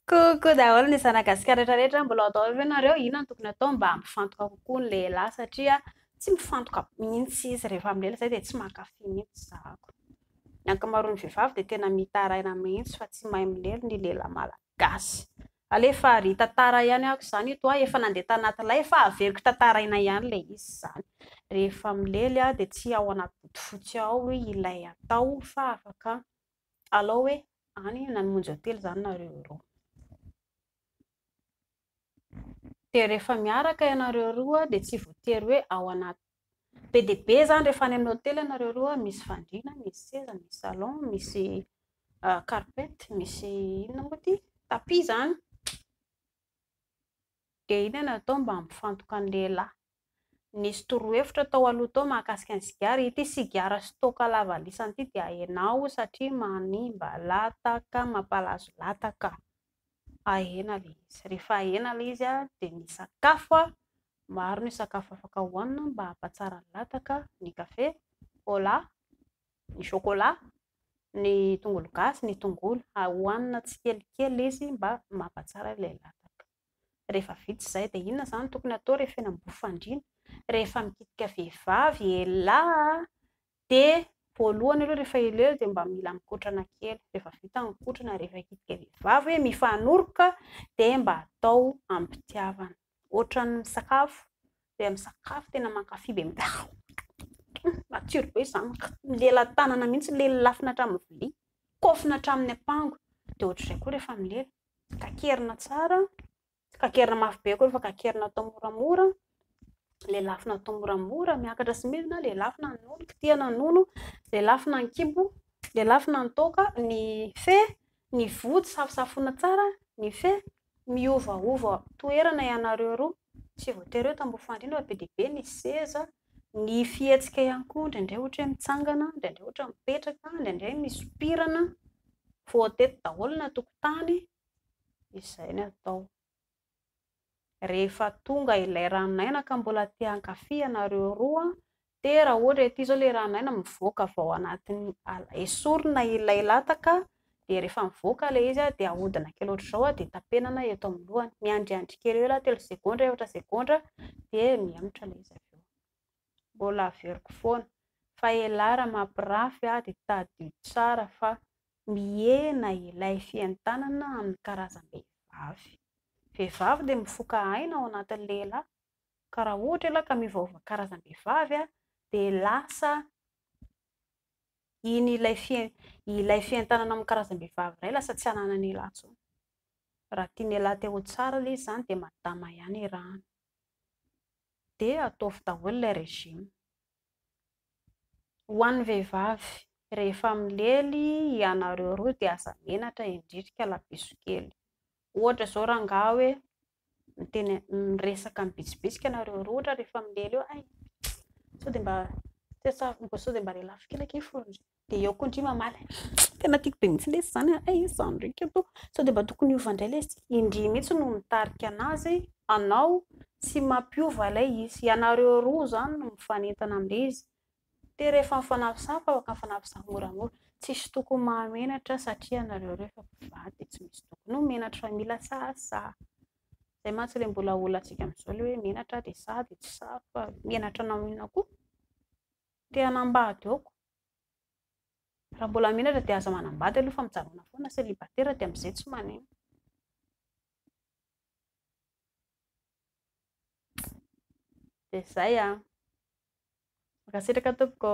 Coucou daholo ny zanagasikara rehetrarehetra mbola ao daholo ve nareo inona no tokony atao mba hampifantoka kokoa ny lehilahy satria tsy mifantoka mihitsy izy rehefa milela zay dia tsy mankafy mihitsy zahako ny ankamaroan'ny vehivavy dia tena mitaraina mihitsy fa tsy mahay milely ny lehilahy malagasy Alefa ary hitantara ihany ako izany eto a, efa nandeha tanaty lay fa averiko tantaraina ihany ilay izy izany. Rehefa milely aho dia tsy ao anaty bodofotsy ao ilay atao fa afaka alao hoe any na ny monjy hotely izany nareo roa. Dia rehefa miaraka ianareo roa dia tsy voatery hoe ao anaty Be dia be izany rehefa any amin'ny hotely ianareo roa, misy fandriana, misy seza, misy salon, misy carpet, misy inona moa ity, tapis izany. Dia inona no atao mba hampifantoka ny lehilahy? Nisy torohevitra tao aloha tao mahakasika ny sigara, ity sigara stock lavalisany ity dia ahena ao satria manimba lataka, mampalazo lataka. Ahena ilay izy. Rehefa ahena ilay izy dia ny sakafo Maro ny sakafo afaka hohanina mba hampatsara ny lataka, ny kafe, cola, ny chocolat, ny tongolo gasy, ny tongolo, hohanina tsikelikely izy mba mampatsara ilay lataka. Rehefa vita izay dia inona izany no tokony hatao rehefa eny Ambohifandriana? Rehefa mikitika vehivavy ialahy dia voalohany aloha rehefa ela ela dia mba mila mikotrana kely, rehefa vita ny mikotrana, rehefa hikitika vehivavy hoe mifanoroka dia mba atao am-pitiavana. Ohatran'ny misakafo, dia misakafo tena mankafy be matsiro be izany, lelatanana mihintsy, lelafina hatramin'ny vilia, kofona hatramin'ny ampango, dia ohatr'izay koa rehefa milela, kakerina tsara, tsy kakerina mafy be akory fa kakerina atao moramora, lelafina atao moramora, miakatra sy midina, lelafina ny nono, kitihina ny nono, lelafina ny kibo, lelafina ny toaka, ny fe, Ny vody safosafoina tsara ny fe miovaova toerana ianareo roa tsy voatery hoe tamboho fandrindra be dia be ny seza, ny fihetsika ihany koa indraindray ohatra hoe mitsangana, indraindray ohatra mipetraka, indraindray misompirana, voatety daholo ny an-tokotany, izay ny atao. rehefa tonga ilay ran'aina ka mbola te hankafy ianareo roa dia raha ohatra ity izao ilay ran'aina mivoaka avy ao anatin'ny ala, esorina ilay lataka dia rehefa mivoaka ilay izy dia ahodina kely ohatr'izao dia tapenana eto amin'ny lohany, miandriandry kely eo ialahy telo segondra, efatra segondra dia mihemotra ilay izy avy eo, mbola averiko foana fa ialahy raha mampirafy dia tadidio tsara fa Mihena ilay fientanana amin'ny karazam-behivavy. Vehivavy dia mifoka aina ao anatin'ny lehilahy, ka raha ohatra ialahy ka miovaova karazam-behivavy dia lasa iny ilay fien- ilay fientanana amin'ny karazam-behivavy iray lasa tsy ananan'ialahy intsony. Raha tian'ialahy te ho tsara ilay izy izany dia madama ihany arahina. Dia ataovy daholo ilay régime. Ho an'ny vehivavy, rehefa milely ianareo roa dia aza menatra indrindry ka labeso kely. Ohatra izao rangahy hoe miteny miresaka mibitsibitsika ianareo roa ohatra rehefa milely eo, hay sao dia mba, sao dia mba lelafo kely akia fony. dia eo koa ndry mamaly tena tiako be mihitsy lesy zany ay zany ndreka atoa sao dia mba tokony hiova indray lesy indry mihitsy no mitarika anazy anao tsy mampiova ilay izy ianareo roa zany no mifanentana amin'ilay izy dia rehefa mifanafisafa afaka mifanafisafa moramora tsisy tokony mahamenatra satria ianareo roa efa mpivady dia tsy misy tokony ho menatra fa mila sahasaha zay mantsy ilay mbola olantsika amin'izao ilay hoe menatra dia sahy dia tsy sahy fa menatra anao inona koa te hanambady ao koa Raha mbola menatra dia aza manambady aloha fa mijanona foana célibataire dia amin'izay tsy manino. Dia izay an! Mankasitraka tompoko.